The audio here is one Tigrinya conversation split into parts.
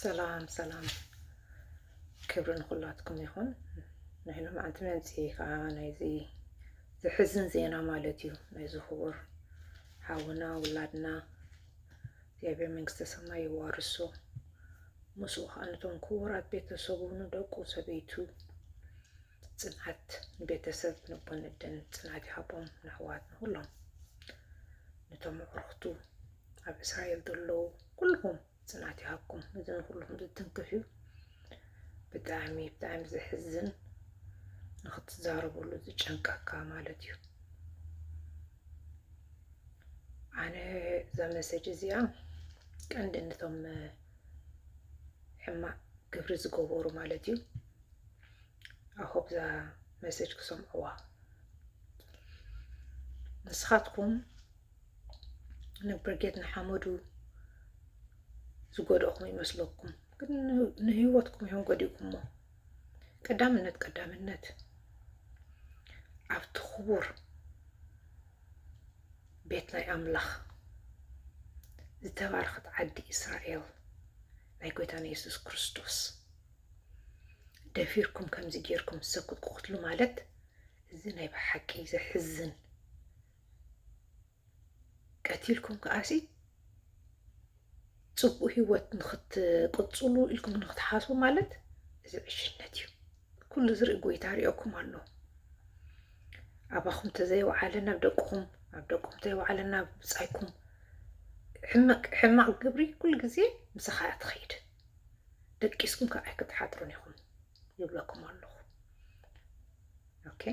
ሰላም ሰላም ክብሪ ንኹላትኩም ይኹን። ናይ ሎምዓንቲ መምፅኢ ከዓ ናይዚ ዘሕዝን ዜና ማለት እዩ ናይዚ ክቡር ሓውና ውላድና እግዚኣብሔር መንግስተ ሰማይ የዋርሶ ምስኡ ከዓ ነቶም ክቡራት ቤተሰቡ ንደቁ ሰበይቱ ፅንዓት ንቤተሰብ ንቦን እደን ፅንዓት ይሃቦም ንኣሕዋት ንኹሎም ነቶም ኣዕሩኽቱ ኣብ እስራኤል ዘለዉ ኩልኩም ፅናት ይሃብኩም እዚ ንኩልኩም ዝትንክፍ እዩ ብጣዕሚ ብጣዕሚ ዘሕዝን ንክትዛረበሉ ዝጨንቀካ ማለት እዩ ኣነ እዛ መሰጅ እዚኣ ቀንዲ ነቶም ሕማቅ ግብሪ ዝገበሩ ማለት እዩ ኣሆብዛ መሰጅ ክሰምዕዋ ንስኻትኩም ንብርጌድ ንሓመዱ ዝጎድእኹም ይመስለኩም፣ ግን ንህይወትኩም እዮም ጎዲእኩሞ። ቀዳምነት ቀዳምነት ኣብቲ ክቡር ቤት ናይ ኣምላኽ ዝተባረኸት ዓዲ እስራኤል ናይ ጎይታና የሱስ ክርስቶስ ደፊርኩም ከምዚ ጌርኩም ሰብ ክትቅትሉ ማለት እዚ ናይ ብሓቂ ዘሕዝን ቀቲልኩም ከኣሲ ፅቡቅ ሂወት ንክትቅፅሉ ኢልኩም ንክትሓስቡ ማለት እዚ ዕሽነት እዩ ኩሉ ዝርኢ ጎይታ ሪኦኩም ኣሎ ኣባኹም ተዘይወዓለ ናብ ደቅኹም ኣብ ደቅኹም ተይወዓለ ናብ ብፃይኩም ሕማቅ ግብሪ ኩሉ ግዜ ምሳኻ እያ ትኸይድ ደቂስኩም ከዓ ኣይክትሓጥሩን ኢኹም ይብለኩም ኣለኹ ኦኬ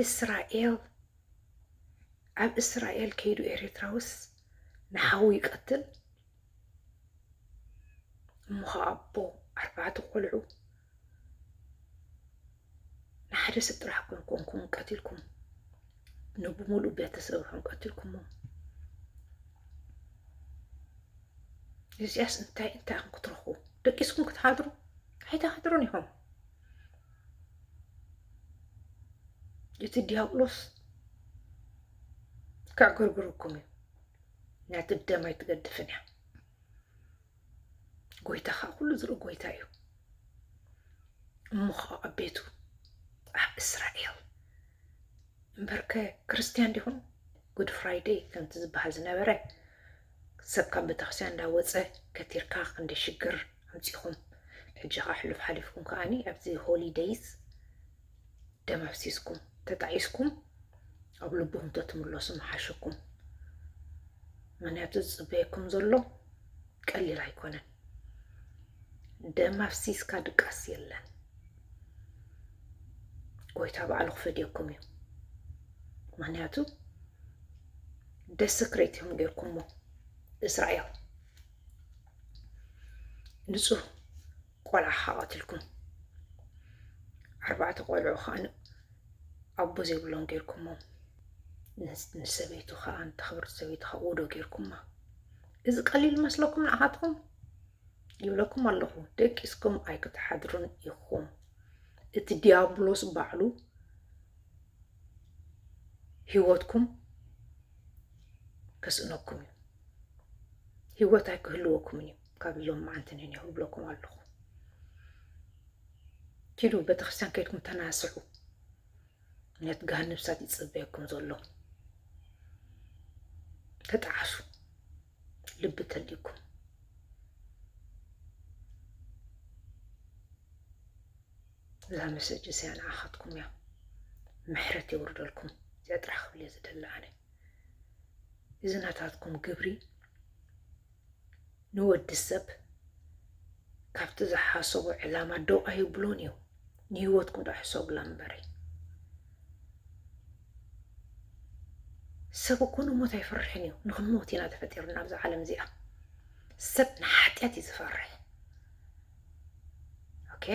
እስራኤል ኣብ እስራኤል ከይዱ ኤርትራውስ ንሓዉ ይቀትል እሞ ከዓ ኣቦ ኣርባዕተ ቆልዑ ንሓደ ሰብ ጥራሕ ኮን ኮንኩም ቀትልኩም ንብሙሉእ ቤተሰብኩም ቀትልኩሞ እዚኣስ እንታይ እንታይ ክትረኽቡ ደቂስኩም ክትሓድሩ ኣይትሓድሩን ኢኹም እቲ ዲያብሎስ ከዕግርግረኩም እዩ ናቲ ደም ኣይትገድፍን እያ ጎይታ ከዓ ኩሉ ዝርኢ ጎይታ እዩ እሞ ከዓ ኣብ ቤቱ ኣብ እስራኤል እምበርከ ክርስትያን ዲኹም ጉድ ፍራይደይ ከምቲ ዝበሃል ዝነበረ ሰብ ካብ በተክርስቲያን እንዳ ወጸ ከቲርካ ክንደይ ሽግር ኣምጺኹም ሕጂ ከኣ ሕሉፍ ሓሊፍኩም ከኣኒ ኣብዚ ሆሊ ደይስ ደም ኣፍሲስኩም ተጣኢስኩም ኣብ ልብኹም ተትምለሱ ምሓሸኩም ምክንያቱ ዝጽበየኩም ዘሎ ቀሊል ኣይኮነን ደም ኣፍሲስካ ድቃስ የለን ጎይታ ባዕሉ ክፈድየኩም እዩ ምክንያቱ ደስክሬት እዮም ጌርኩሞ እስራኤል ንፁህ ቆልዓ ከዓ ቀትልኩም ኣርባዕተ ቆልዑ ከዓ ኣቦ ዘይብሎም ጌርኩሞ ንሰበይቱ ከዓ ንተኽብርቲ ሰበይቱ ከዓ ውዶ ጌርኩማ እዚ ቀሊል መስለኩም ንኣኻትኩም ይብለኩም ኣለኹ ደቂስኩም ኣይክትሓድሩን ኢኹም እቲ ዲያብሎስ ባዕሉ ህይወትኩም ከስእነኩም እዩ ህይወት ኣይክህልወኩምን እዩ ካብ ሎም መዓንቲ ንኔሁ ብለኩም ኣለኹ ኪዱ ቤተክርስትያን ከይድኩም ተናስዑ ነት ጋሃን ንብሳት ይፅበየኩም ዘሎ ተጣዓሱ ልቢ ተልዩኩም እዛ መሰጅ እዚኣ ንዓኻትኩም እያ ምሕረት የውርደልኩም እዚኣ ጥራሕ ክብል እየ ዝደሊ ኣነ እዚ ናታትኩም ግብሪ ንወዲ ሰብ ካብቲ ዝሓሰቦ ዕላማ ደው ኣይብሎን እዩ ንህይወትኩም ዶ ሕሰቡላ እምበሪ ሰብ እኮ ንሞት ኣይፈርሕን እዩ ንክንሞት ኢና ተፈጢርና ኣብዚ ዓለም እዚኣ ሰብ ንሓጢኣት እዩ ዝፈርሕ ኦኬ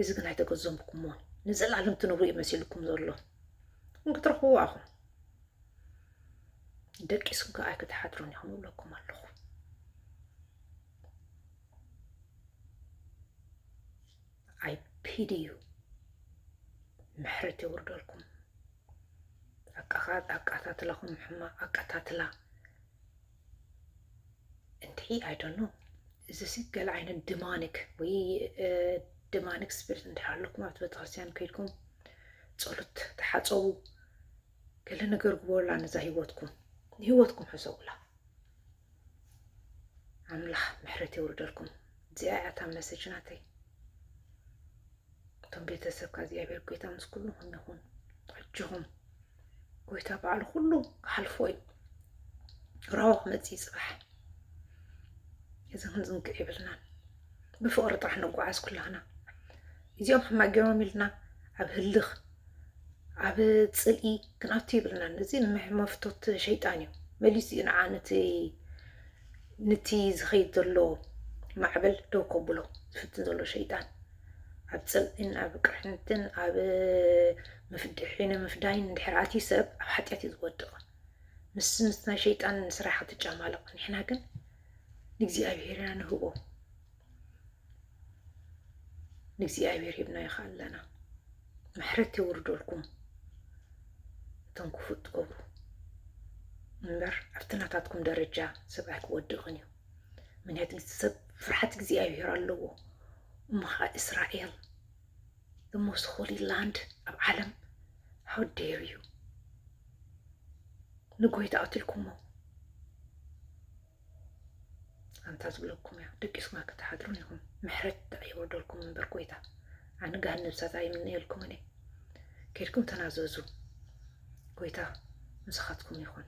እዚ ግን ኣይተገዘምኩሞን ንዘለኣለም ትነብሩ እዩ መሲልኩም ዘሎ ግን ክትረኽብዎ ኣኹም ደቂስኩም ከ ኣይክትሓድሩን ኢኹም እብለኩም ኣለኹ ኣይ ፒዲ ዩ ምሕረት የውርደልኩም። ኣቃታትላኹም ሕማቅ ኣቃታትላ እንድዒ ኣይደኖ እዚ ሲ ገለ ዓይነት ድማኒክ ወይ ድማኒክ ስፒሪት እንድሕር ኣለኩም ኣብቲ ቤተክርስትያን ከይድኩም ጸሎት ተሓጸቡ ገለ ነገር ግበሩላ ነዛ ህይወትኩም ንህይወትኩም ሕሰቡላ ኣምላኽ ምሕረት የውርደልኩም እዚኣ እያ እታ መሰጅ ናተይ እቶም ቤተሰብካ እግዚኣብሔር ጎይታ ምስ ኩልኹም ይኹን ኣጆኹም ጎይታ በዓሉ ኩሉ ክሓልፎ እዩ ራሆ ክመፅእ ይፅባሕ እዚ ክንዝንግዕ ይብልናን ብፍቕሪ ጥራሕ ንጓዓዝ ኩላህና እዚኦም ሕማቅ ገይሮም ኢልና ኣብ ህልኽ ኣብ ፅልኢ ክንኣቱ ይብልና እዚ መፍቶት ሸይጣን እዩ መሊሱ እዩ ንዓ ነቲ ንቲ ዝኸይድ ዘሎ ማዕበል ደው ከብሎ ዝፍትን ዘሎ ሸይጣን ኣብ ፅልእን ኣብ ቅርሕንትን ኣብ ምፍድሒን ምፍዳይን እንድሕር ኣትዩ ሰብ ኣብ ሓጢኣት እዩ ዝወድቕ ምስ ምስ ናይ ሸይጣን ስራሕ ክትጫማለቕ ንሕና ግን ንእግዚኣብሔር ኢና ንህቦ ንእግዚኣብሔር ሂብናዮ ከኣ ኣለና ምሕረት የውርደልኩም እቶም ክፉ እትገብሩ እምበር ኣብቲ ናታትኩም ደረጃ ሰብ ኣይክወድቕን እዩ ምክንያቱ ሰብ ፍርሓት እግዚኣብሔር ኣለዎ እሞ ከዓ እስራኤል the most holy land ኣብ ዓለም how dare you ንጎይታ ኣትልኩሞ ኣንታ ዝብለኩም እያ ደቂስኩም ክትሓድሩን ኢኹም ምሕረት ድኣ የውርደልኩም እምበር ጎይታ ኣነ ገሃነብ ሳት ኣይምነየልኩምን እየ ኬድኩም ተናዘዙ ጎይታ ምሳኻትኩም ይኹን